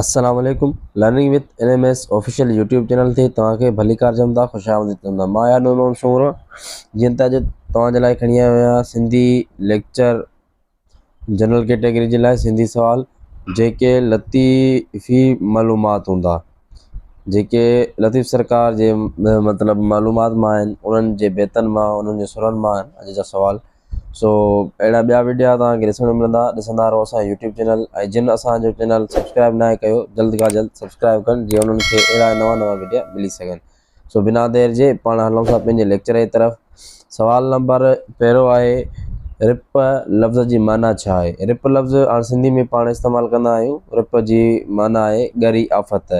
السلام عليڪم learning with N M S official YouTube channel تي توهان کي ڀليڪار چون ٿا خوش آمديد چون ٿا مان آهيان نور محمد سومرو جيئن ته اڄ توهان جي لاء کڻي آيو آهيان سنڌي ليڪچر جنرل ڪيٽيگري جي لاء سنڌي سوال جيڪي لطيفي معلومات هوندا جيڪي لطيف سرڪار جي مطلب معلومات مان آهن انهن جي بيتن مان انهن جي سرن مان اڄ جا سوال سو اهڙا ٻيا وڊيا توهان کي ڏسڻ ملندا ڏسندا رهو اسان جو يوٽيوب چينل ۽ جن اسان جو چينل سبسڪرائب ناهي ڪيو جلد کان جلد سبسڪرائب ڪن جي انهن کي اهڙا نوان نوان وڊيا ملي سگهن سو بنا دير جي پاڻ هلون ٿا پنهنجي ليڪچر جي طرف سوال نمبر پهريون آهي رپ لفظ جي معنيٰ ڇا آهي رپ لفظ هاڻ سنڌي ۾ پاڻ استعمال ڪندا آهيون رپ جي معنيٰ آهي ڳري آفت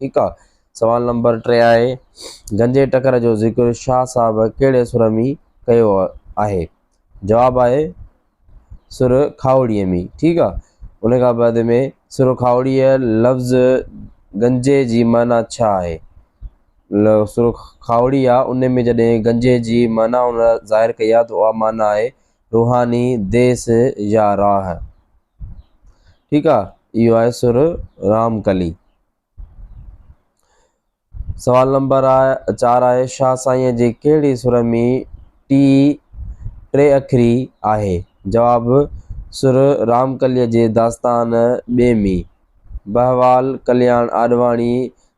ٺيڪ آ سوال نمبر ٽي آهي گنجي ٽڪر جو ذڪر شاهه صاحب ڪهڙي سر ۾ ڪيو آهي جواب آهي سر کاهوڙيء ۾ ٺيڪ آ ان کان بعد ۾ سر کاهوڙيء لفظ گنجي جي معنيٰ ڇا آهي سر کاهوڙي آ ان ۾ جڏهن گنجي جي معنيٰ ان ظاهر ڪئي آ ته اها معنيٰ آهي روحاني ديس يا راهه ٺيڪ آ اهو آهي سر رام ڪلي. سوال نمبر آ چار آهي شاهه سائينء جي ڪهڙي سر ۾ ٽي ٽي اکري آهي؟ جواب سر رام ڪليء جي داستان ٻي ۾ بهوال ڪلياڻ آڏواڻي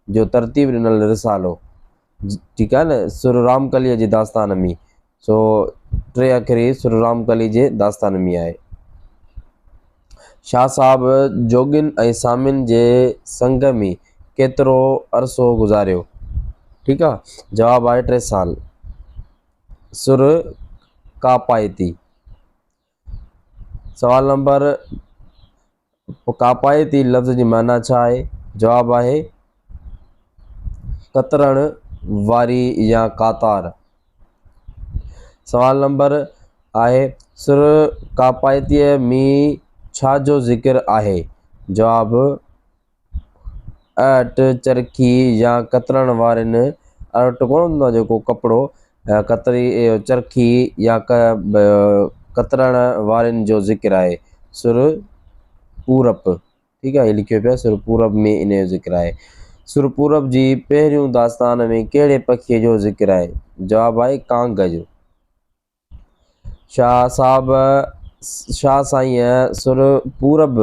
جو ترتيب ڏنل رسالو ٺيڪ آهي نه سر رام ڪليء جي داستان ۾ سو ٽي اکري سر رام ڪلي جي داستان ۾ آهي. شاهه صاحب جوڳين ۽ سامين جي سنگ ۾ ڪيترو عرصو گذاريو؟ ٺيڪ آ جواب آهي ٽي سال. سر ڪاپائتي. سوال نمبر ڪاپائتي لفظ جي معنيٰ ڇا آهي؟ جواب آهي ڪترڻ واري يا قاطار. سوال نمبر آهي سر ڪاپائتيء مين ڇا جو ذڪر آهي؟ جواب اٽ، چرخي يا ڪترڻ وارين اٽ ڪونه هوندو آهي جيڪو ڪپڙو ڪتري چرخي يا ڪترڻ وارين جو ذڪر آهي سر پورپ ٺيڪ آهي هي لکيو پيو آهي سر پورپ ۾ ان جو ذڪر آهي سر پورپ جي پهريون داستان ۾ ڪهڙي پکيء جو ذڪر آهي جواب آهي ڪانگ جو. شاهه صاحب شاهه سائينء سر پورب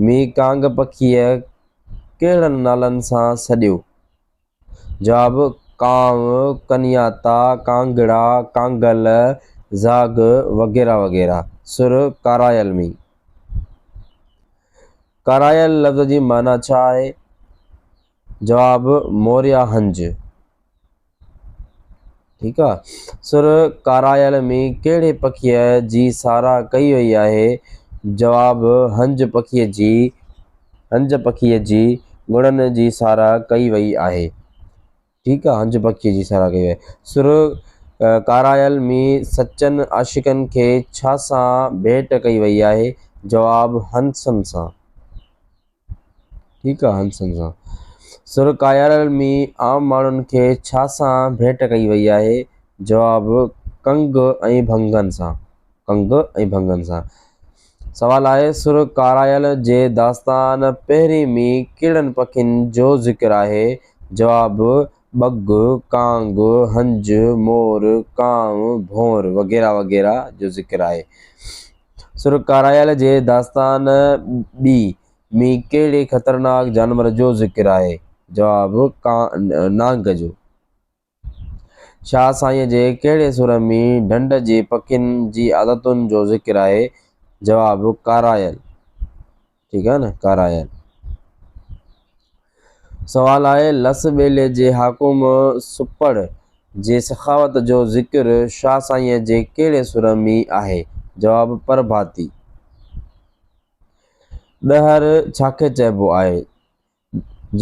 ۾ ڪانگ پکيء ڪهڙن نالن سان سڏيو؟ جواب، ڪانء، ڪنياتا، ڪانگڙا، ڪانگل، زاگهه وغيره وغيره. سر ڪارايل ۾. ڪارايل لفظ جي معنيٰ ڇا آهي؟ جواب، موريا هنج. ٺيڪ آ سر ڪارايل ۾ ڪهڙي پکيء جي ساراهه ڪئي وئي آهي؟ جواب، هنج پکيء جي هنج پکيء جي گڻن جي ساراهه ڪئي وئي آهي ٺيڪ آ هنج پکيء جي ساراهه ڪئي وئي آهي سر ڪارايل ۾ سچن عاشقن کي ڇا سان ڀيٽ ڪئي وئي آهي؟ جواب، هنسن سان. ٺيڪ آ هنسن سان سر ڪايارل ۾ عام ماڻهن کي ڇا سان ڀيٽ ڪئي وئي آهي؟ جواب، ڪنگ ۽ ڀنگن سان ڪنگ ۽ ڀنگن سان سوال آهي سر ڪارايل جي داستان پهرين ۾ ڪهڙن پکين جو ذڪر آهي؟ جواب، ٻگهه، ڪانگ، هنج، مور، ڪانء، ڀونر وغيره وغيره جو ذڪر آهي. سرڪاريل جي داستان ٻي ۾ ڪهڙي خطرناڪ جانور جو ذڪر آهي؟ جواب، نانگ جو. شاهه سائينء جي ڪهڙي سر ۾ ڍنڍ جي پکين جي عادتن جو ذڪر آهي؟ جواب، ڪارايل. ٺيڪ آهي نه ڪارايل سوال آهي لس ٻيلي جي حاڪم سپڙ جي سخاوت جو ذڪر شاهه سائينء جي ڪهڙي سر مي آهي جواب پرڀاتي ڏهر ڇاکي چئبو آهي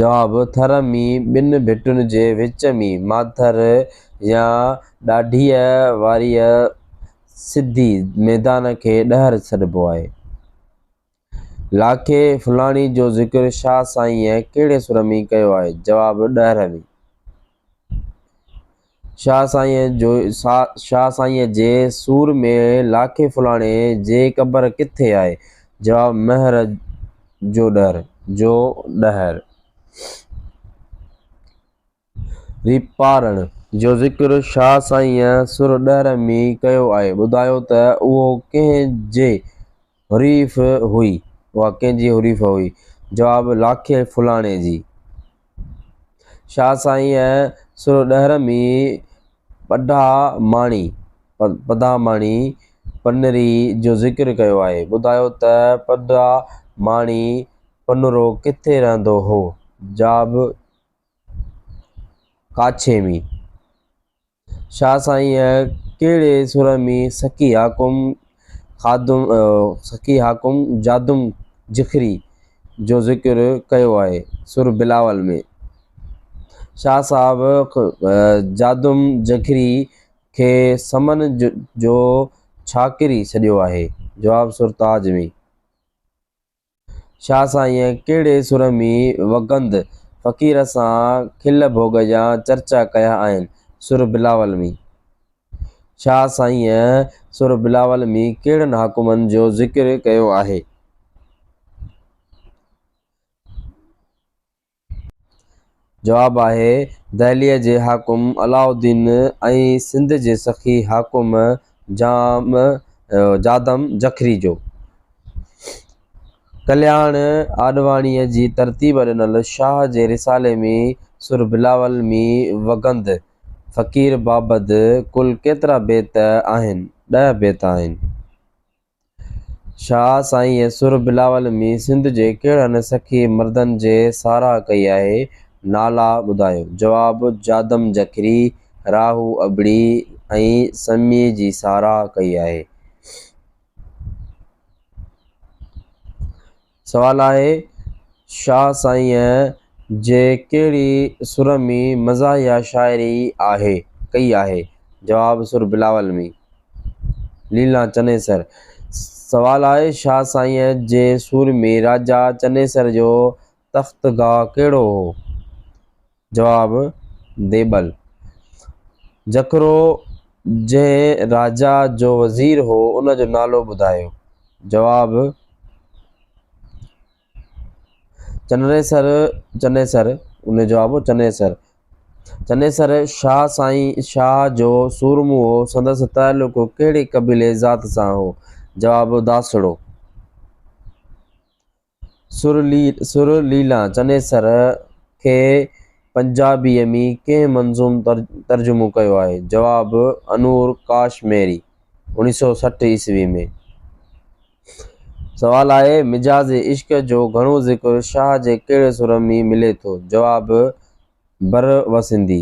جواب ٿر مي ٻن ڀٽن جي وچ مي ماٿر يا ڏاڍيء واريء سڌي ميدان کي ڏهر سڏبو آهي. لاکي، فلاڻي جو ذڪر شاهه سائينء ڪهڙي سر ۾ ڪيو آهي؟ جواب، ڏهر ۾. شاهه سائينء جو شاهه سائينء جي سور ۾ لاکي فلاڻي جي قبر ڪٿي آهي؟ جواب، مهر جو ڏهر. ريپارڻ جو ذڪر شاهه سائينء سر ڏهر ۾ ڪيو آهي. ٻڌايو ته اهو ڪنهن جي حريف هئي؟ اها ڪنهن جي حريف هئي؟ جواب، لاکي ڦلاڻي جي. شاهه سائينء سر ڏهر ۾ پڌا ماڻي، پڌاماڻي، پنري جو ذڪر ڪيو آهي. ٻڌايو ته پڌا ماڻي، پنرو، ڪٿي رهندو هو؟ جواب، ڪاڇي ۾، شاهه سائينء ڪهڙي سر ۾، سخي حاڪم خادم سخي حاڪم جادم جکري جو ذڪر ڪيو آهي، سر بلاول ۾، شاهه صاحب جادم جکري کي سمن جو ڇاڪري سڏيو آهي، جواب سر تاج ۾. شاهه سائينء ڪهڙي سر ۾ وڳند فقير سان کل ڀوڳ جا چرچا ڪيا آهن؟ سر بلاول ۾. شاهه سائينء سر بلاول ۾ ڪهڙن حاڪمن جو ذڪر ڪيو آهي؟ جواب آهي، دهليء جي حاڪم علاء الدين ۽ سنڌ جي سخي حاڪم جام جادم جکري جو. ڪلياڻ آڏواڻيء جي ترتيب ڏنل شاهه جي رسالي ۾ سر بلاول مين وڳند فقير بابد ڪل ڪيترا بيت آهن؟ ڏهه بيت آهن. شاهه سائينء سر بلاول ۾ سنڌ جي ڪهڙن سخي مردن جي ساراهه ڪئي آهي؟ نالا ٻڌايو. جواب، جادم جکري، راهو ابڙي ۽ سميء جي ساراهه ڪئي آهي. سوال آهي شاهه سائينء جي ڪهڙي سر ۾ مزاحيه شاعري آهي ڪئي آهي؟ جواب، سر بلاول ۾. ليلان چنيسر سوال آهي شاهه سائينء جي سور ۾ راجا چنيسر جو تخت گاهه ڪهڙو هو؟ جواب، ديبل، جکرو جنهن راجا جو وزير هو، ان جو نالو ٻڌايو. جواب، چنيسر، چنيسر، ان جو جواب هو چنيسر، چنيسر شاهه سائين شاهه جو سورمو هو، سندس تعلق ڪهڙي قبيلي ذات سان هو؟ جواب، داسڙو. سر ليلا چنيسر کي پنجابيء ۾ ڪنهن منظوم ترجمو ڪيو آهي؟ جواب، انور ڪاش ميري، اوڻيهه سؤ سٺ عيسوي ۾. سوال آهي، مجاز عشق جو گهڻو ذڪر شاهه جي ڪهڙي سر ۾ ملي ٿو؟ جواب، بروسندي.